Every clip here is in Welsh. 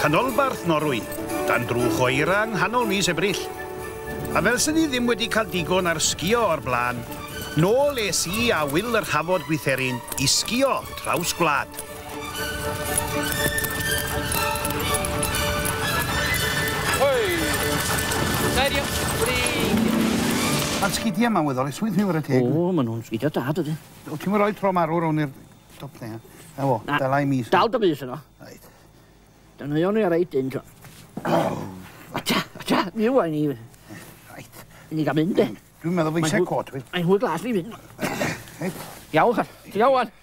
Canolbarth Norwy, dan drwch o eira yng nghanol mis Ebrill. A fel sy'n ni ddim wedi cael digon ar sgio o'r blaen, nôl es i a Wil yr Hafod Gwytherin i sgio traws gwlad. Ma'r sgidia 'ma'n weddol eswyt ti'n wara teg. O ma' nw'n sgidia da dydi? Wt ti'm yn roi tro marw rown i'r top thing a... 'na fo. Na. Dala i mi. Dal dy fys yno. Reit. Dan euo ni ar reit dyn t'o. A ta, a ta, mi ŵan ni. Reit. Ni ga'l mynd de. Dwi'n meddwl bo' fi isie cot fi. Mae'n hwyl glas fi fyn. Reit. Iawn ta. Ti iawn ŵan?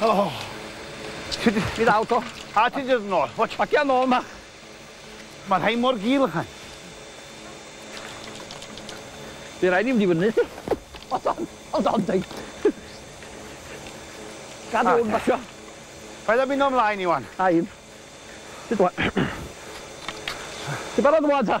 Oh. Ti di... Fi ddal to. A ti di dod nôl. Watch. Bacia nôl ma. Mae rhai mor gul ychan. Fe rai ni fynd i fyny ti. Hold on, hold on ti. Gad hwn basio. Paid a mynd o'm mlaen i wan. A un. Ti barod wan ta?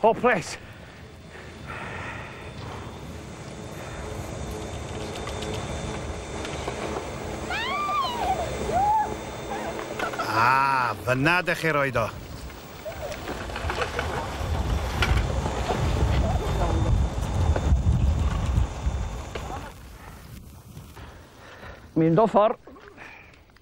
Hopeless. Ah, fyna dych chi roed o. Mynd o ffordd.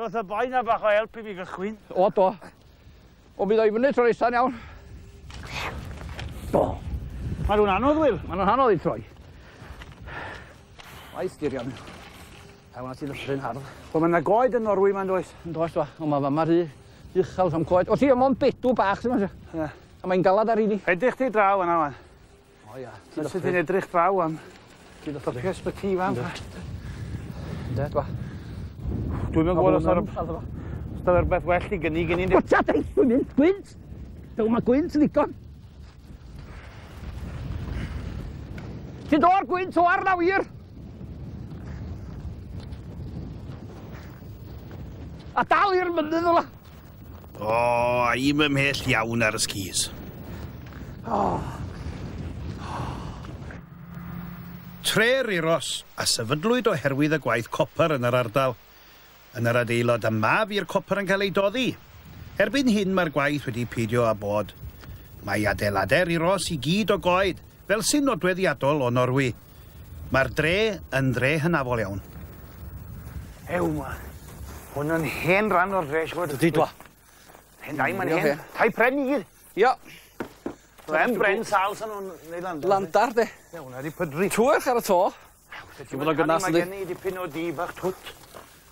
Roedd y boi na bach o help i mi gychwyn. O, do. O, mi ddoi fyny tro eithaf iawn. Do. Mae nhw'n anodd, Wil. Mae nhw'n anodd i troi. Mae styrio mi. A wna ti ddysgu'n hardd. Wel, mae yna goed yn Norwy, mae'n does. Yn does, do. Ond mae fama rhy uchel am goed. O, ti, mae'n bedw bach, ti'n meddwl? Ie. A mae'n galad ar un i. Edrych ti draw yna, wan. O ia. Fel se di'n edrych draw am... Ti'n offi. ...y ysbyty fan 'ma. Ynde t'mo'? Dwi'm yn gwbod os ma' rw-... Os 'na rwbeth well i gynnig i ni ne-... Gwta dy funud gwynt! Dyw 'im y gwynt yn ddigon. Ti do'r gwynt o arna wir! A dal i'r mynydd ola! O, oh, a i'm ymhell iawn ar y skis. Oh. Tre Riros, a sefydlwyd oherwydd y gwaith copr yn yr ardal. Yn yr adeilod yma fu'r copr yn cael ei doddi. Erbyn hyn mae'r gwaith wedi peidio â bod. Mae adeiladau Riros i gyd o goed, Fel sy'n nodweddiadol o Norwy, mae'r dre yn dre hynafol iawn. Ew, ma. Hwn yn hen ran o'r dre, siwr. Dydy dwa. Hen dai, mae'n hen. Tai pren i gyd. Ia. Len bren sal sy'n o'n neud landar. Landar, de. Ia, hwnna di pydru. Twerch ar y to. Mae gen i dipyn o dŷ bach twt.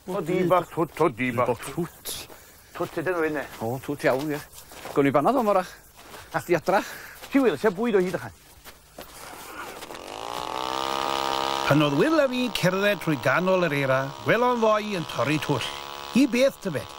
O dŷ bach twt o dŷ bach twt. Twt ydyn nhw hyn de. O twt iawn ie. Gawn ni banad o'n morach. Ach di adra. Ti wyl, se bwyd o hyd ychan. Pan oedd Wil a fi'n cerdded trwy ganol yr eira, gwelon ddoi yn torri twll. Hi beth tybed?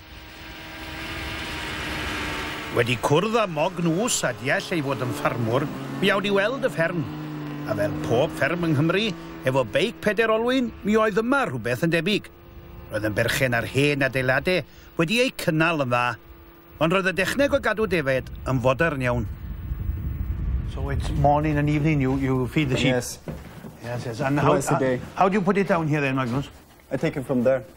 Wedi cwrdd â Mogg Nws a deall ei fod yn ffarmwr, mi awd i weld y fferm. A fel pob fferm yng Nghymru, efo beic peder olwyn, mi oedd yma rhywbeth yn debyg. Roedd yn berchen ar hen adeilade wedi eu cynnal yn dda. Ond roedd y dechneg o gadw defaid yn fodern iawn. So it's morning and evening you you feed the sheep? Yes. Yes yes and how how do you put it down here then Magnws? I take it from there.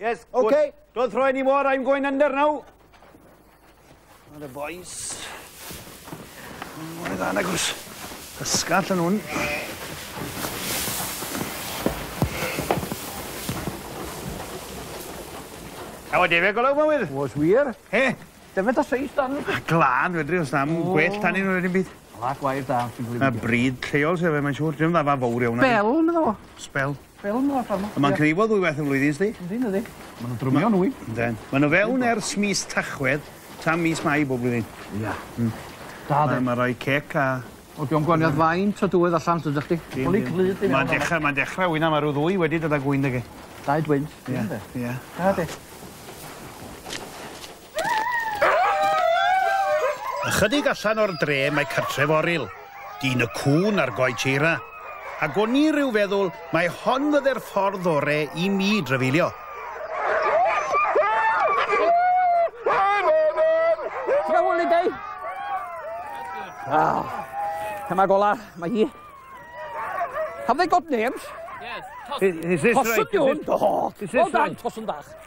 Yes, good. Okay. Don't throw any more, I'm going under now. Not the boys. Mae'n dda na gwrs. Ysgall yn hwn. Awa defe golwg ma wydd? Was wir. He? Defe da seis dan. Glad fedri os nam oh. gwell tan un o'r un byd. Lac wair da. Mae bryd lleol sef e, mae'n siŵr. Dwi'n dda fa fawr iawn. Spel, meddwl. Spel. Fel 'na pan... A ma'n cneifio ddwywaith y flwyddyn sdi? Yndi dydi. Ma' nw'n drymio'n ŵyl. Ynden. Ma' n'w fewn ers mis Tachwedd tan mis Mai bob blwyddyn. Ia. Hmm. Da 'de? Ma' roi cêc a... O dio'm gwaniath faint o dywydd allan tydach chdi? Dim dim. Ma'n dechra ma'n dechra ŵyn a ma' rw ddwy wedi dod â gŵyn 'da fi. Dau dwyn? Ia. Ia. Da 'de? Ychydig allan o'r dre mae cartref Oryl, dyn y cŵn a'r goets eira. Ac o'n i rhyw feddwl mai hon fydde'r ffordd ore i mi drafeilio. Wow. Dyma gola, mae hi. Have they got names? Yes. Is, is this right? Is this, oh, is this right? Tosyn bach.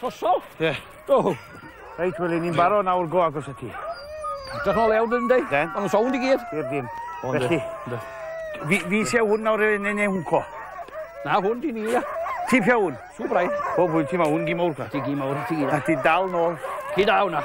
Trosol? Ie. Yeah. Do. Reit, wel, ni'n barod nawr go agos y ti. Dach nôl iawn dyn, dyn? Den. Ond sawnd i gyd. I'r dyn. Felly, fi, fi si a hwn nawr yn ei hwnco. Na, hwn di ni, ia. Ti pia hwn? Sŵbrai. O, bwyd ti ma hwn gi mawr. Ti gi mawr, ti gi. A ti dal nôl. Ti dal hwnna.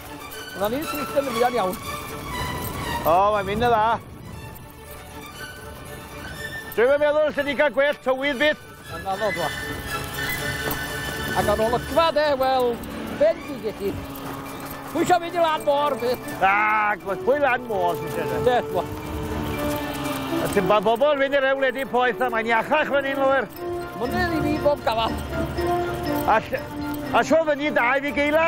Dyna ni, sych yn fuan iawn. O, mae'n mynd y dda. Dwi'n meddwl lle di cael gwell tywydd byth. Yn anodd wa. Ac ar ôl y gfa de, wel, ben di geti. Pwy eisiau mynd i lan môr byth? Na, gwrs, pwy lan môr sy'n siarad? E? Beth wa. A ti'n ba bobl fynd i'r ewledu poeth a mae'n iachach fan hyn, Lwyr. Mwynhau i fi bob gafal. A, a sio fyny dau fi geila?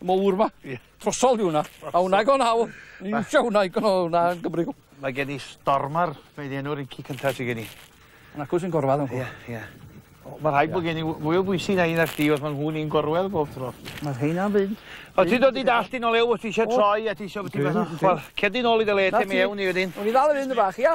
mowr 'ma. Ie. Trosol yw wnna. Trosol. A wnna go naw. Ni iwsio wnna i gno- wnna yn Gymru. Mae gen i stormar mae 'di enw'r inci cynta sy gen i. Yn acw sy'n gorfadd yncw? Ie ie. O ma' rhaid bo' gen i w- fwy o bwysi na un na chdi os ma' nhw'n un gorwel bob tro. Ma' rheina'n fynd. O ti'n dod i dallt di nol eu os ti isie troi a ti isio bo' ti fatha chwar- cerddi nol i dy le te mewn i wedyn. O'n i ddal i fynd y' fach ia?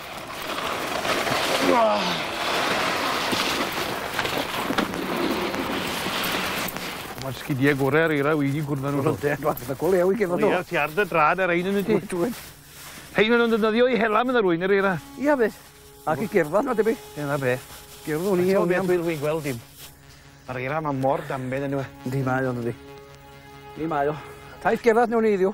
Ma'r sgidie gore ar eira wedi cwrdd â nw 'to. Yndi wel fatha go lew i genod o. Ie ti ar dy drad ar rein yndwyt ti? Wyt wyt. Rhein ma' nw'n defnyddio i hela medda rywun yr eira. Ia fyth. Ac i gerddad ma'n debyg. Ie 'na fe. Gerddwn i iawn iawn. Dwi dwi gweld dim. Ma'r eira ma' mor danbed yndyw e? Yndi mae o dydi? Yndi mae o. Taith gerddad newn ni iddiw.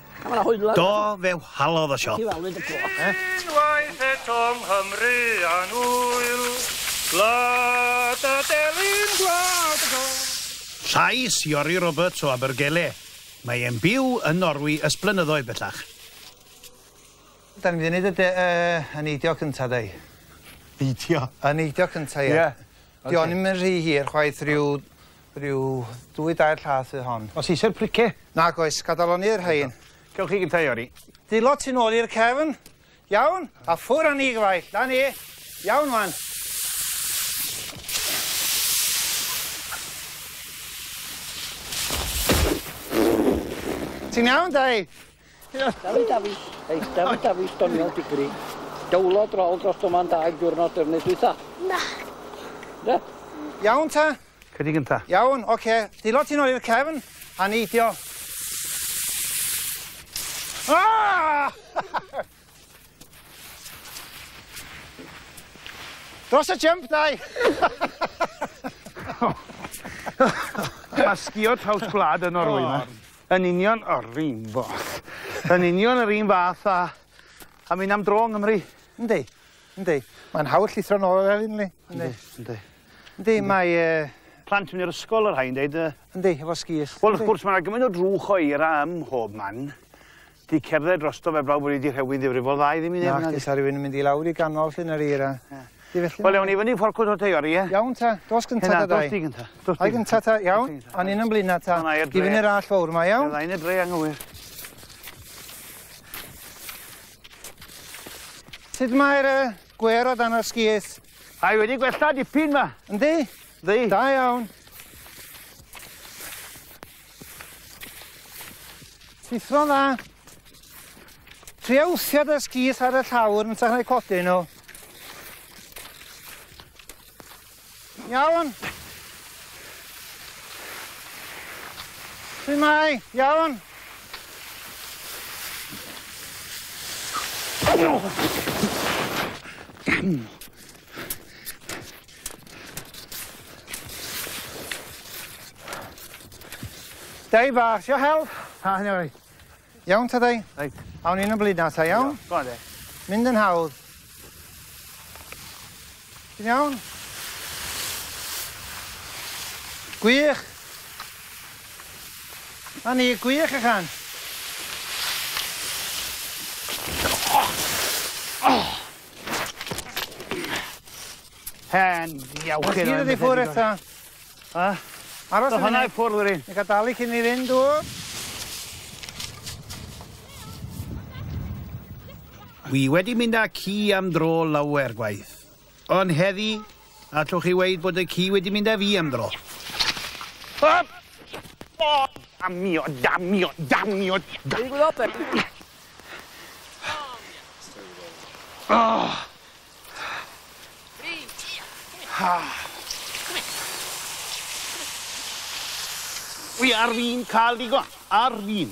Do, fe whalodd y siop. Unwaith eto Nghymru a'n ŵyl, gwlad a delyn gwlad y gol. Llais Iori Roberts o Abergele. Mae e'n byw yn Norwy ys blynyddoedd bellach. Da ni wedi neud y y neidio cynta do? Neidio? Y neidio cynta ie. Ie. Dio ni'm yn rhy hir chwaith ryw Rhyw ddwy dair llath fydd hon. Os eisiau'r price? Nag oes, gadalon ni i'r rhain. Cewch chi gyntaf Iori. Dilo ti'n ôl i'r cefn. Iawn, a ffwr â ni gyfaill. Da ni. Iawn wan. Ti'n iawn, Dai? Dafi, Dafi. Ei, Dafi, Dafi, stoniol digri. Dawlo drol dros dyma'n daig diwrnod defnydd dwytha. Na. Da. Iawn ta? Cedi gynta. Iawn, oce. Dilo ti nôl i'r cefn a neidio. Ah! Dros y jump, dau! Mae sgio traws gwlad yn orwy yma. Yn union o'r un boll. Yn union yr un fath a... a mynd am dro yng Nghymru. Yndi, yndi. Mae'n hawdd llithro nôl ar hyn, li. Yndi, yndi. Yndi, mae... Yy... Plant yn mynd i'r ysgol, y rhain dweud. Uh... Yndi, efo sgis. Wel, wrth gwrs, mae yna gymaint o drwch o eira ym mhob man. Di cerdded drosto fe blaw bod wedi rhewi'n ddifrifol dda i ddim i neb. Na, di sa rhywun yn mynd i lawr i ganol llun yr eira. Yeah. Wel, iawn, i fyny fforcwt o'r teio, ie? Iawn ta, dos gynta ta dau. Dos di gynta. Ai gynta ta, iawn? O'n un yn blina ta. I fyny'r all fawr yma, iawn? Iawn, edrych dre anghywir. Sut mae'r gwer o dan o'r sgis? Mae wedi gwella dipyn ma. Yndi? Yndi. Da iawn. Llithro dda. Tria wthio dy sgith ar y llawr yn tach na codi nhw. Iawn. Fi mai, iawn. Oh! Dai bach, sio hel? Ha, hynny oi. Iawn ta dai? Reit. Awn ni'n y blid na ta, iawn? Go on de. Mynd yn hawdd. Ti'n iawn? Gwych. 'Na ni, gwych ychan! Hen iawcyn o enw. Ti'n mynd i ffwr eto? A? Aros yn hwnna i ffwrdd wedi. Ni gael dalu cyn ni fynd, dw? Wi wedi mynd â ci am dro lawer gwaith. Ond heddi, allwch chi weud bod y ci wedi mynd â fi am dro. Hop! O, damio, damio, damio! Wedi gwneud open. Oh! Ah. Wi ar fin cael digon. Ar fin.